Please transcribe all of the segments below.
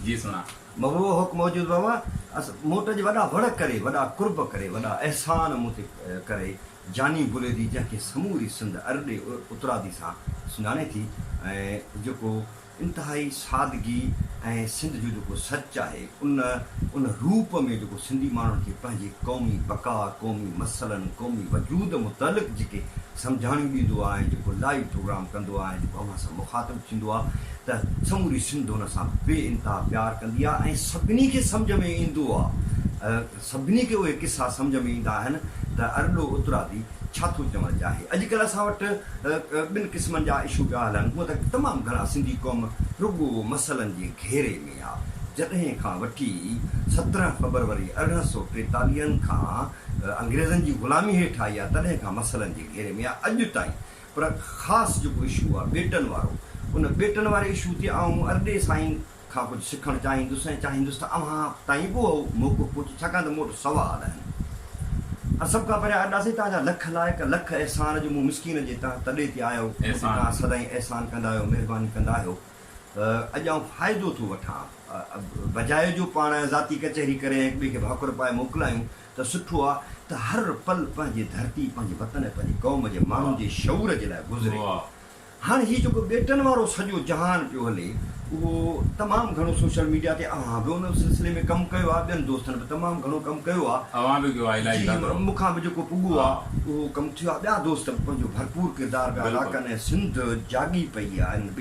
جي سڻا مغرور هوڪ موجود وئا وئا اس مون وٽ اڄ وڏا وڙ ڪري وڏا قرب ڪري وڏا احسان مون تي ڪري جاني بليدي جنهن کي سموري سنڌ ارڏي اترادي سان سڃاڻي ٿي ۽ جيڪو انتهائي سادگي ۽ سنڌ جو جيڪو سچ آهي ان ان روپ ۾ جيڪو سنڌي ماڻهن کي پنهنجي قومي بقا قومي مسئلن قومي وجود متعلق جيڪي سمجهاڻيون ڏيندو آهيان جيڪو لائيو پروگرام ڪندو آهيان جيڪو اوهان سان مخاطب ٿيندو آهي ته سموري سنڌ هن سان بي انتها پيار ڪندي آهي ۽ سڀني کي سمجهه ۾ ايندو آهي سڀني کي اهي قصا سمجهه ۾ ايندا آهن ته ارڏو اترادي ڇا ٿو چوڻ چاهي اڄ ڪلهه اسان وٽ ٻن قسمن جا اشو پيا هلن هونء ته تمام گهڻا سنڌي قوم رڳو مسئلن جي گهيري ۾ آهي جڏهن کان وٺي سترهن فبروري ارڙهن سؤ ٽيتاليهن کان انگريزن جي غلامي هيٺ آئي آ تڏهن کان مسئلن جي گهيري ۾ آ اڄ تائين پر خاص جيڪو اشو آ ٻيٽن وارو ان ٻيٽن واري اشو تي آئون ارڏي سائين کان ڪجهه سکڻ چاهيندس ۽ چاهيندس ته اوهان تائين به اهو موقعو پهچي ڇاڪاڻ ته مون وٽ سوال آهن ۽ سڀ کان پهريان ارڏا سائين توهان جا لک لائق لک احسان جو مون مسڪين جي تنهن تڏي تي آيو مون تي توهان سدائين احسان ڪندا آهيو مهرباني ڪندا آهيو. اڄ آئون فائدو ٿو وٺان، بجاء جو پاڻ ذاتي ڪچهري ڪري ۽ هڪ ٻئي کي ڀاڪر پائي موڪلايون ته سٺو آ ته هر پل پنهنجي ڌرتي، پنهنجي وطن ۽ پنهنجي قوم جي ماڻهن جي شعور جي لاء گذري. هاڻ هي جيڪو ٻيٽن وارو سڄو جهان پيو هلي اهو تمام گهڻو سوشل ميڊيا تي اوهان به ان سلسلي ۾ ڪم ڪيو آ، ٻين دوستن به تمام گهڻو ڪم ڪيو آ، جي مون کان به جيڪو پڳو آ اهو ڪم ٿيو آ، ٻيا دوست به پنهنجو ڀرپور ڪردار پيا ادا ڪن ۽ سنڌ جاڳي پئي آ.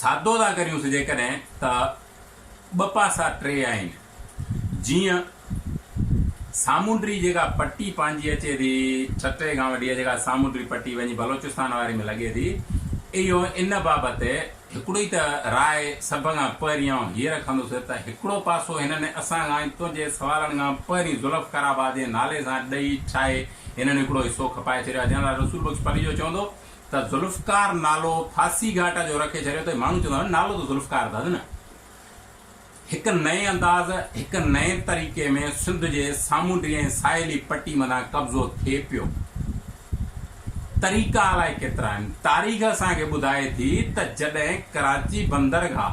سادو ٿا ڪريونس جيڪڏهن ته ٻه پاسا ٽي آهن جيئن سامونڊي جيڪا پٽي پنهنجي اچي ٿي ٺٽي کان وٺي جيڪا سامونڊي پٽي وڃي بلوچستان واري ۾ لڳي ٿي اهو ان بابت هڪڙو ئي ته راء سڀ کان پهرين آئون هيء رکندس ته هڪڙو پاسو هنن اسان کان ۽ تنهنجي سوالن کان پهرين ذوالفقار آباد جي نالي سان ڏئي ٺاهي هنن هڪڙو حصو کپائي ڇڏيو آهي جنرل رسول بخش پليجو چوندو ته ذوالفقار نالو ڦاسي گهاٽ جو رکي ڇڏيو اٿئي، ماڻهو چوندا هئا نالو ته ذوالفقار اٿس نه. هڪ نئين انداز، هڪ نئين طريقي ۾ سنڌ جي سامونڊي ۽ ساحلي پٽي مٿان قبضو ٿئي پيو. طريقا الائي ڪيترا آهن. تاريخ اسان کي ٻڌائي ٿي ته جڏهن ڪراچي بندرگاهه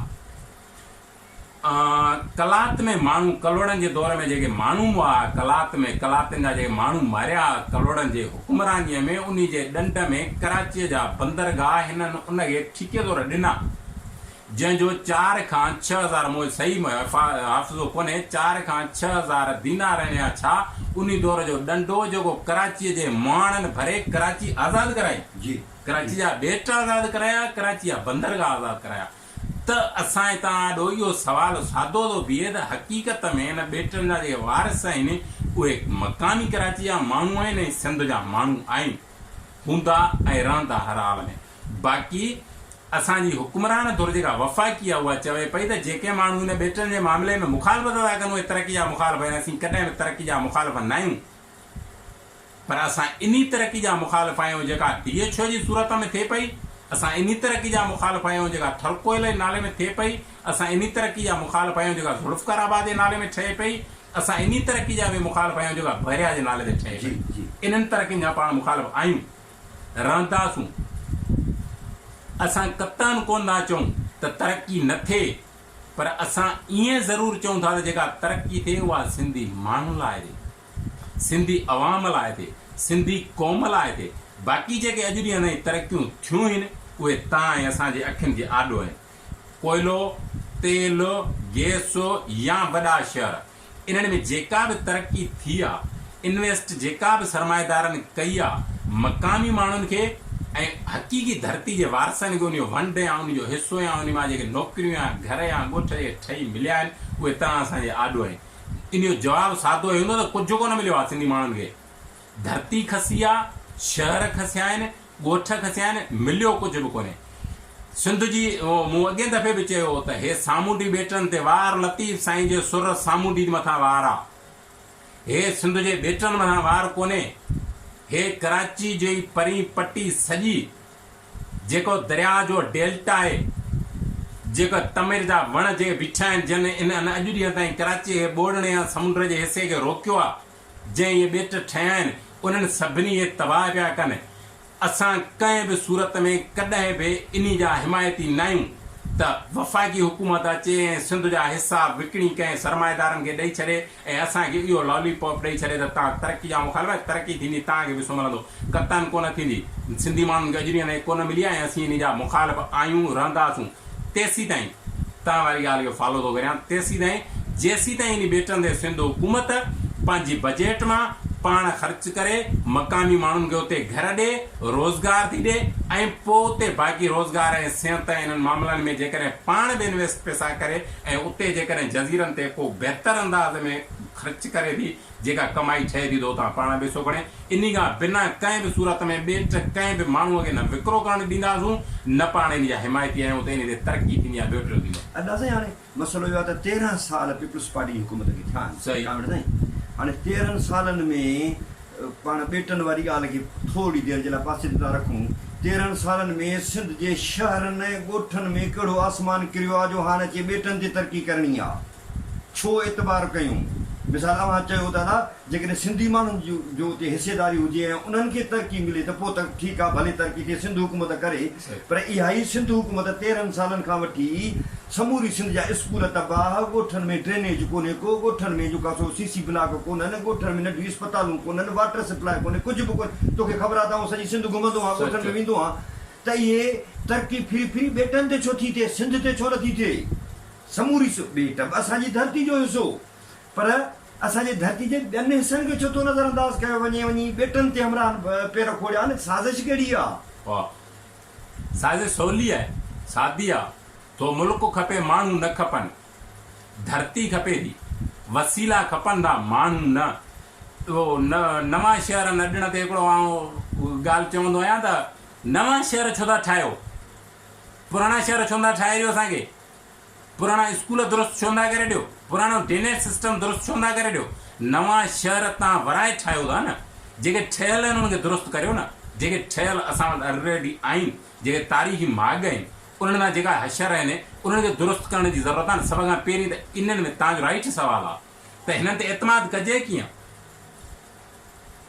قلات ۾ ماڻهو ڪلهوڙن جي دور ۾ جيڪي ماڻهو مئا ها قلات ۾ قلاتين جا جيڪي ماڻهو ماريا ها ڪلهوڙن جي حڪمرانيء ۾ انهي جي ڏنڊ ۾ ڪراچيء جا بندرگاهه هنن ان کي ٺيڪي طور ڏنا جنهن جو چار کان ڇهه هزار مون صحيح حافظو ڪونهي چار کان ڇهه هزار دينار هنيا ڇا انهي دور جو ڏنڊو جيڪو ڪراچيء جي مهاڻن ڀري ڪراچي آزاد ڪرائي ڪراچي جا ٻيٽ آزاد ڪرايا ڪراچي جا بندرگاهه آزاد ڪرايا ته اسان توهان آڏو اهو سوال سادو ٿو بيهي ته حقيقت ۾ هن ٻيٽن جا جيڪي وارث آهن اهي مقامي ڪراچي جا ماڻهو آهن ۽ سنڌ جا ماڻهو آهن، هوندا ۽ رهندا هر حال ۾. باقي اسان جي حڪمران ڌر جيڪا وفاقي آهي اها چوي پئي ته جيڪي ماڻهو هن ٻيٽن جي معاملي ۾ مخالفت ٿا ڪن اهي ترقي جا مخالف آهن، اسين ڪڏهن به ترقي جا مخالف ناهيون. پر اسان انهي ترقي جا مخالف آهيون جيڪا ڊي ايڇ او جي صورت ۾ ٿئي پئي، اسان انهي ترقي جا مخالف آهيون جيڪا ٿرڪوئل جي نالي ۾ ٿئي پئي، اسان انهي ترقي جا مخالف آهيون جيڪا ذوالفقار آباد جي نالي ۾ ٺهي پئي، اسان انهي ترقي جا به مخالف آهيون جيڪا بحريا جي نالي تي ٺهي پئي. انهن ترقين جا پاڻ مخالف آهيون، رهنداسون. اسان قطعاً ڪونه ٿا چئون ته ترقي نه ٿئي. پر اسان ائين ضرور چئون ٿا ته جيڪا ترقي ٿئي اها سنڌي ماڻهن لاء ٿئي، سنڌي عوام لاء ٿئي، سنڌي قوم لاء ٿئي، باقي جيڪي اڄ ڏينهن تائين ترقيون ٿيون هين اهي تان ۽ اسان جي اکين جي آڏو آهن. ڪوئلو، تيل، گيس يا وڏا شهر انهن ۾ جيڪا به ترقي ٿي آ، انويسٽ جيڪا به سرمائيدارن ڪئي آ، مقامي ماڻهن کي ۽ حقيقي ڌرتي جي وارثن کي ان جو ونڊ يا ان جو حصو يا ان مان جيڪي نوڪريون يا گهر يا ڳوٺ جي ٺهي مليا آهن، اهي تنها اسان جي آڏو آهن. ان جو جواب سادو هي هوندو ته ڪجهه ڪونه مليو آ سنڌي ماڻهن کي. ڌرتي کسي آ، شهر کسيا آهن، ڳوٺ کي سيان مليو ڪجهه به ڪونهي. سنڌ جي مون اڳين دفعي به چيو هو ته هي سامونڊي ٻيٽن تي وار لطيف سائين جي سر سامونڊين مٿان وار آ. هي سنڌ جي ٻيٽن مٿان وار ڪونهي. هي ڪراچي جي پرين پٽي سڄي جيڪو درياء جو ڊيلٽا آهي. جيڪي تمر جا وڻ جي بيٺا آهن جن ان اڄ ڏينهن تائين ڪراچي جي ٻوڙڻي يا سمنڊ جي حصي کي روڪيو آ. جنهن اهي ٻيٽ ٺهيا آهن، انهن سڀني کي تباهه پيا ڪن. اسان ڪنهن به صورت ۾ ڪڏهن به انهي جا حمايتي ناهيون ته وفاقي حڪومت اچي ۽ سنڌ جا حصا وڪڻي ڪنهن سرمائيدارن کي ڏئي ڇڏي ۽ اسان کي اهو لالي پاپ ڏئي ڇڏي ته توهان ترقي جا مخالف آهيو، ترقي ٿيندي توهان کي به حصو ملندو. قطعاً ڪونه ٿيندي. سنڌي ماڻهن کي اجري انهي ڪونه ملي آهي ۽ اسين انهي جا مخالف آهيون، رهنداسون. تيسيتائين توهان واري ڳالهه جو فالو ٿو ڪريان تيسيتائين جيسيتائين انهي ٻيٽن تي سنڌ حڪومت پنهنجي بجيٽ مان پاڻ خرچ ڪري مقامي ماڻهن کي اتي گهر ڏي روزگار ٿي ڏي ۽ پوء اتي باقي روزگار ۽ صحت ۽ انهن معاملن ۾ جيڪڏهن پاڻ به انويسٽ پئسا ڪري ۽ اتي جيڪڏهن جزيرن تي ڪو بهتر انداز ۾ خرچ ڪري ٿي جيڪا ڪمائي ٺهي ٿي تو تان پاڻ پئسو کڻي انهي کان بنا ڪنهن به صورت ۾ ٻين ٽه ڪنهن به ماڻهو کي نه وڪرو ڪرڻ ڏينداسون نه پاڻ انهي جا حمايتي آهيون ته انهي تي ترقي ٿيندي يا ٻيو ٽيو ٿيندو. ادا سائين هاڻي مسئلو اهو آهي ته تيرهن سال پيپلز پارٽي جي حڪومت کي ٿيا آهن صحيح. ڪامريڊ سائين هاڻي تيرهن سالن ۾ پاڻ ٻيٽن واري ڳالهه کي ٿورڙي دير جي لاء پاسي تي ٿا رکون تيرهن سالن ۾ سنڌ جي شهرن ڳوٺن ۾ ڪهڙو آسمان ڪريو آ جو هاڻ اچي ٻيٽن تي ترقي ڪرڻي آ. ڇو اعتبار ڪيون؟ مثال اوهان چيو ته ادا جيڪڏهن سنڌي ماڻهن جو اتي حصيداري هجي ۽ انهن کي ترقي ملي ته پوء ته ٺيڪ آهي ڀلي ترقي ٿئي سنڌ حڪومت ڪري پر اهائي سنڌ حڪومت تيرهن سالن کان وٺي سموري سنڌ جا اسڪول تباهه ڳوٺن ۾ ڊرينيج ڪونهي ڪو ڳوٺن ۾ جيڪو سو سي سي بلاڪ ڪونهن ڳوٺن ۾ ننڍيون اسپتالون ڪونهن واٽر سپلاء ڪونهي ڪجهه به ڪونهي توکي خبر آهي ته آئون سڄي سنڌ گهمندو آهيان ڳوٺن ۾ ويندو آهيان ته اهي ترقي ڦري ڦري ٻيٽن تي ڇو ٿي ٿئي سنڌ تي ڇو نٿي ٿئي. سموري سو ٻيٽ به اسان جي ڌرتي جو حصو هو پر اسان جي ڌرتي جي ٻين حصن کي ڇو ٿو نظر انداز ڪيو وڃي وڃي ٻيٽن تي همراهن پير کوڙيا آهن سازش ڪهڙي آهي؟ واهه سازش سولي آهي سادي آهي ٿو ملڪ کپي ماڻهو نه کپن ڌرتي کپي ٿي وسيلا کپن ٿا ماڻهو نه اهو نوان شهر نه ڏڻ تي هڪڙو آئون ڳالهه چوندو آهيان ته نوان شهر ڇو ٿا ٺاهيو پراڻا شهر ڇو نه ٺاهيو اسان کي پراڻا اسڪول درست ڇو نٿا ڪري ڏيو، پراڻو ڊينيج سسٽم درست ڇو نٿا ڪري ڏيو، نوان شهر تان ورائي ٺاهيو ٿا نه، جيڪي ٺهيل آهن انهن کي درست ڪريو نه، جيڪي ٺهيل اسان وٽ الريڊي آهن، جيڪي تاريخي ماڳ آهن، انهن تان جيڪا حشر آهن انهن کي درست ڪرڻ جي ضرورت آهي نه، سڀ کان پهرين ته انهن ۾ تنهنجو رائيٽ سوال آهي ته هنن تي اعتماد ڪجي ڪيئن،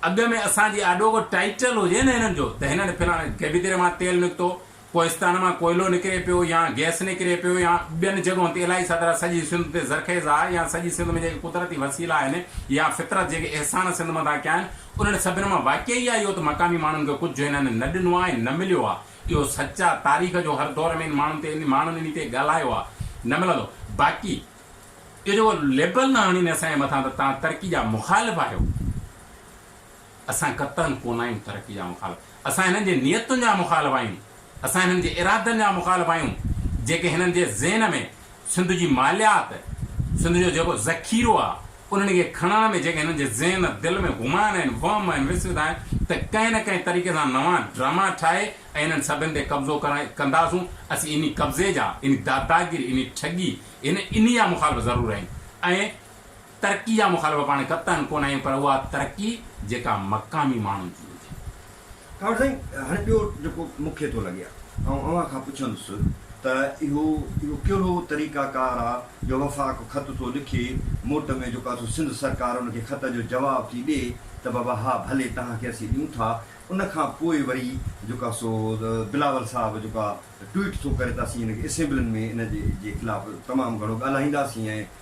اڳ ۾ اسان جي آڏو ڪو ٽائيٽل هجي نه هنن جو ته هنن فلاڻي گيبي دري مان تيل نڪتو، ڪوهستان مان ڪوئلو نڪري پيو يا گئس نڪري پيو يا ٻين جڳهن تي الائي ڇا طرح سڄي سنڌ تي زرخيز آهي يا سڄي سنڌ ۾ جيڪي قدرتي وسيلا آهن يا فطرت جيڪي احسان سنڌ مٿان ڪيا آهن انهن سڀن مان واقعي اها اهو ته مقامي ماڻهن کي ڪجهه هنن نه ڏنو آهي نه مليو آهي اهو سچ آهي تاريخ جو هر دور ۾ ان ماڻهن تي ماڻهن انهي تي ڳالهايو آهي نه ملندو باقي اهو جيڪو ليبل نه هڻين اسان جي مٿان ته تهان ترقي جا مخالف آهيو. اسان قطعن ڪونه آهيون ترقي جا مخالف، اسان هنن جي نيتن جا مخالف آهيون، اسان هنن جي ارادن جا مخالف آهيون، جيڪي هنن جي ذهن ۾ سنڌ جي ماليات، سنڌ جو جيڪو ذخيرو آهي، انهن کي کڻڻ ۾ جيڪي هنن جي ذهن دل ۾ گمان آهن، وهم آهن، وسوسه آهن ته ڪنهن نه ڪنهن طريقي سان نوان ڊراما ٺاهي ۽ انهن سڀن تي قبضو ڪرڻ ڪنداسون، اسين انهي قبضي جا، انهي داداگيري، انهي ٺڳي، هن انهي جا مخالف ضرور آهيون ۽ ترقي جا مخالف پاڻ قطعاً ڪونه آهيون پر اها ترقي جيڪا مقامي ماڻهن جي هجي. ڪانوڙ سائين هاڻي ٻيو جيڪو مون کي ٿو لڳي آئون اوهان کان پڇندس ته اهو اهو ڪهڙو طريقه ڪار آ جو وفاق خط ٿو لکي موٽ ۾ جيڪو آ سو سنڌ سرڪار ان کي خط جو جواب ٿي ڏي ته بابا ها ڀلي توهان کي اسين ڏيون ٿا ان کان پوء وري جيڪو آ سو بلاول صاحب جيڪو آ ٽوئيٽ ٿو ڪري ته اسين هن کي اسيمبلين ۾ ان جي جي خلاف تمام گهڻو ڳالهائينداسين ۽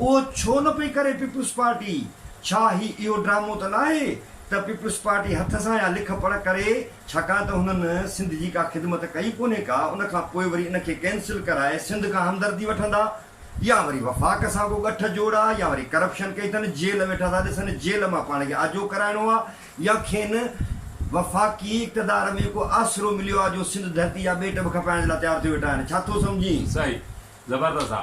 اهو ڇو نه پئي ڪري پيپلز پارٽي؟ ڇا هي اهو ڊرامو ته ناهي ته پيپلز پارٽي هٿ سان يا لک پڙهه ڪري ڇاڪاڻ ته هنن سنڌ جي ڪا خدمت ڪئي ڪونهي ڪا ان کان پوء وري ان کي ڪينسل ڪرائي سنڌ کان همدردي وٺندا يا وري وفاق سان ڪو ڳٺ جوڙا يا وري ڪرپشن ڪئي اٿن جيل ويٺا ٿا ڏسن جيل مان پاڻ کي آجو ڪرائڻو آ يا کين وفاقي اقتدار ۾ ڪو آسرو مليو آ جو سنڌ ڌرتي جا ٻيٽ به کپائڻ جي لاء تيار ٿيو ويٺا آهن ڇا ٿو سمجهين؟ صحيح زبردست آ.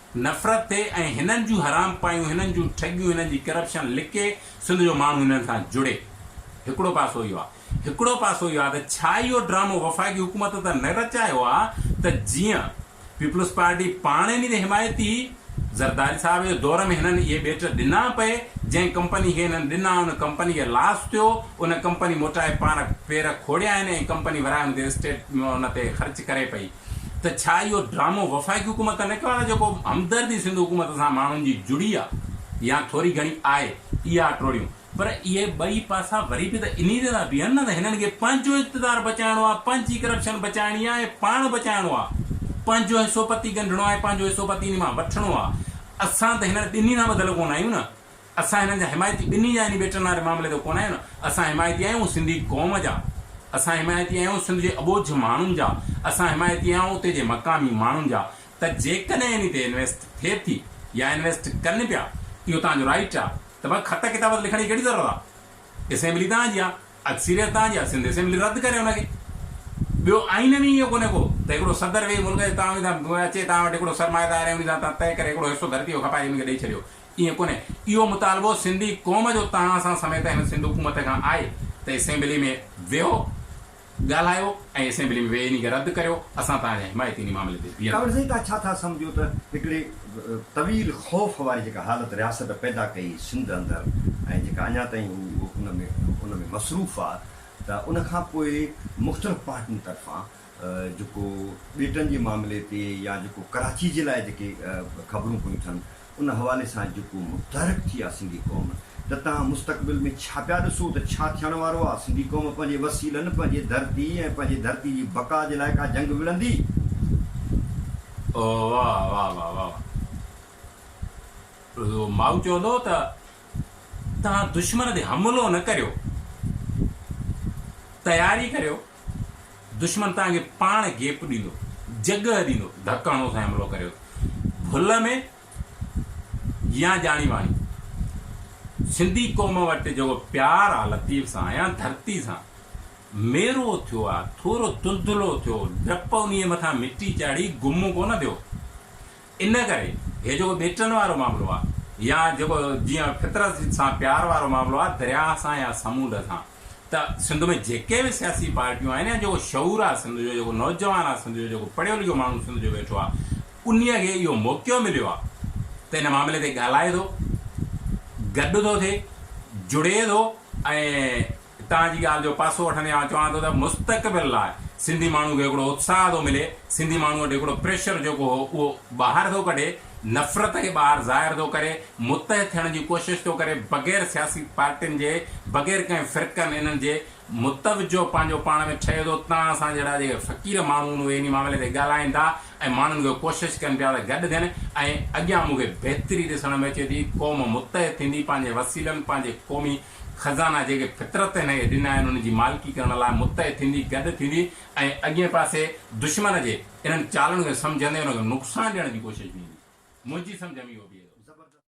نفرت ٿئي ۽ هنن جون حرامپايون، هنن جون ٺڳيون، هنن جي ڪرپشن لڪي سنڌ جو ماڻهو هنن سان جڙي. هڪڙو پاسو اهو آهي. هڪڙو پاسو اهو آهي ته ڇا اهو ڊرامو وفاقي حڪومت ته نه رچايو آهي ته جيئن پيپلز پارٽي پاڻ ان جي حمايتي هئي. زرداري صاحب جي دور ۾ هنن اهي ٻيٽ ڏنا پئي، جنهن ڪمپني کي هنن ڏنا ان ڪمپني کي لاس ٿيو، ان ڪمپني موٽائي پاڻ پير کوڙيا آهن ۽ ڪمپني ورهائي ان تي اسٽيٽ ان تي خرچ ڪري پئي. ته ڇا اهو ڊرامو وفاقي حڪومت ته نه ڪيو آهي نه جيڪو همدردي سنڌ حڪومت سان ماڻهن جي جڙي آهي يا ٿوري گهڻي آهي اها ٽوڙيون پر اهي ٻئي پاسا وري به ته انهي تي ٿا بيهن نه ته هنن کي پنهنجو اقتدار بچائڻو آهي پنهنجي ڪرپشن بچائڻي آهي ۽ پاڻ بچائڻو آهي پنهنجو حصو پتي ڳنڍڻو آهي پنهنجو حصو پتي انهي مان وٺڻو آهي اسان ته هنن ٻنهي سان ٻڌل ڪونه آهيون نه اسان هنن جا حمايتي ٻنهي جا يعني ٻيٽن واري معاملي جو ڪونه آهيون اسان حمايتي آهيون سنڌي قوم جا اسان حمايتي آهيون سنڌ جي اٻوجهه ماڻهن جا اسان حمايتي آهيون اتي جي مقامي ماڻهن جا ته جيڪڏهن انهي تي انويسٽ ٿئي ٿي يا انويسٽ ڪن پيا اهو توهان جو رائيٽ آ ته پوء خط ڪتاب تي لکڻ جي ڪهڙي ضرورت آ اسيمبلي توهان جي آ اڪثريت توهان جي آ سنڌ اسيمبلي رد ڪري ان کي ٻيو آئين ۾ اهو ڪونه ڪو ته هڪڙو صدر ويهي ملڪ جي توهان اچي توهان وٽ هڪڙو سرمائيدار ۽ انهي سان توهان طئي ڪري هڪڙو حصو ڌرتي جو کپائي انهن کي ڏئي ڇڏيو ائين ڪونهي، اهو مطالبو سنڌي قوم جو تهان سان سميت هن سنڌ حڪومت کان آهي ته اسيمبلي ۾ ويهو، ڳالهايو ۽ اسيمبلي ۾ ويهي انهي کي رد ڪريو، اسان تهان جا حمايتي انهي معاملي تي بيهندا. تون زيتا ڇا ٿا سمجهو ته هڪڙي طويل خوف واري جيڪا حالت رياست پيدا ڪئي سنڌ اندر ۽ جيڪا اڃا تائين هو ان ۾ ان ۾ مصروف آ ته ان کان پوء مختلف پارٽين طرفان جيڪو ٻيٽن جي معاملي تي يا جيڪو ڪراچي جي لاء جيڪي خبرون پيون ٿين ان حوالي سان جيڪو متحرڪ ٿي آ سنڌي قوم ته تهان مستقبل ۾ ڇا پيا ڏسو ته ڇا ٿيڻ وارو آ سنڌي قوم پنهنجي وسيلن پنهنجي ڌرتي ۽ پنهنجي ڌرتي جي بقا جي لاء ڪا جنگ وڙهندي. او واء واء واء واء واء مائو چوندو ته تهان دشمن تي حملو نه ڪريو تياري ڪريو. دشمن توهان کي پاڻ گيپ ڏيندو، جڳهه ڏيندو، ڌڪ هڻو سائين حملو ڪريو ڀل ۾ يا ڄاڻي واڻي. سنڌي قوم وٽ جيڪو پيار آ لطيف سان يا ڌرتي سان ميرو ٿيو آ ٿورو دلدلو ٿيو، ڊپ انهي مٿان مٽي چاڙهي گم ڪونه ٿيو. ان ڪري هي جيڪو ٻيٽن وارو معاملو آ يا جيڪو جيئن فطرت سان پيار وارو معاملو آ درياء سان يا سمونڊ سان ته سنڌ ۾ جيڪي به سياسي پارٽيون آهن يا جيڪو شعور آ سنڌ جو جيڪو نوجوان آ سنڌ جو جيڪو پڙهيو لکيو ماڻهو سنڌ جو ويٺو آ انهي کي اهو موقعو مليو آ ته ان معاملي تي ڳالهائي ٿو گڏ ٿو ٿئي جڙي ٿو ۽ هتان جي ڳالهه جو پاسو وٺندي آئون چوان ٿو ته مستقبل لاء سنڌي ماڻهو کي هڪڙو اتساهه ٿو ملي، سنڌي ماڻهو وٽ هڪڙو پريشر جيڪو هو اهو ٻاهر ٿو ڪڍي، نفرت کي ٻاهر ظاهر ٿو ڪري، متحد ٿيڻ جي ڪوشش ٿو ڪري، بغير سياسي پارٽين جي، بغير ڪنهن فرقن انهن جي متوجهه پنهنجو پاڻ ۾ ٺهي ٿو، تان اسان جهڙا جيڪي فقير ماڻهو آهن اهي انهي معاملي تي ڳالهائين ٿا ۽ ماڻهن کي ڪوشش ڪن پيا ته گڏ ٿين ۽ اڳيان مون کي بهتري ڏسڻ ۾ اچي ٿي، قوم متحد ٿيندي پنهنجي وسيلن پنهنجي قومي خزانا جيڪي فطرت هن کي ڏنا آهن ان جي مالڪي ڪرڻ لاء متحد ٿيندي، گڏ ٿيندي ۽ اڳئين پاسي دشمن جي انهن چالن کي سمجهندي ان کي نقصان ڏيڻ جي ڪوشش بيهندي. منهنجي سمجهه ۾ اهو بيهي ٿو.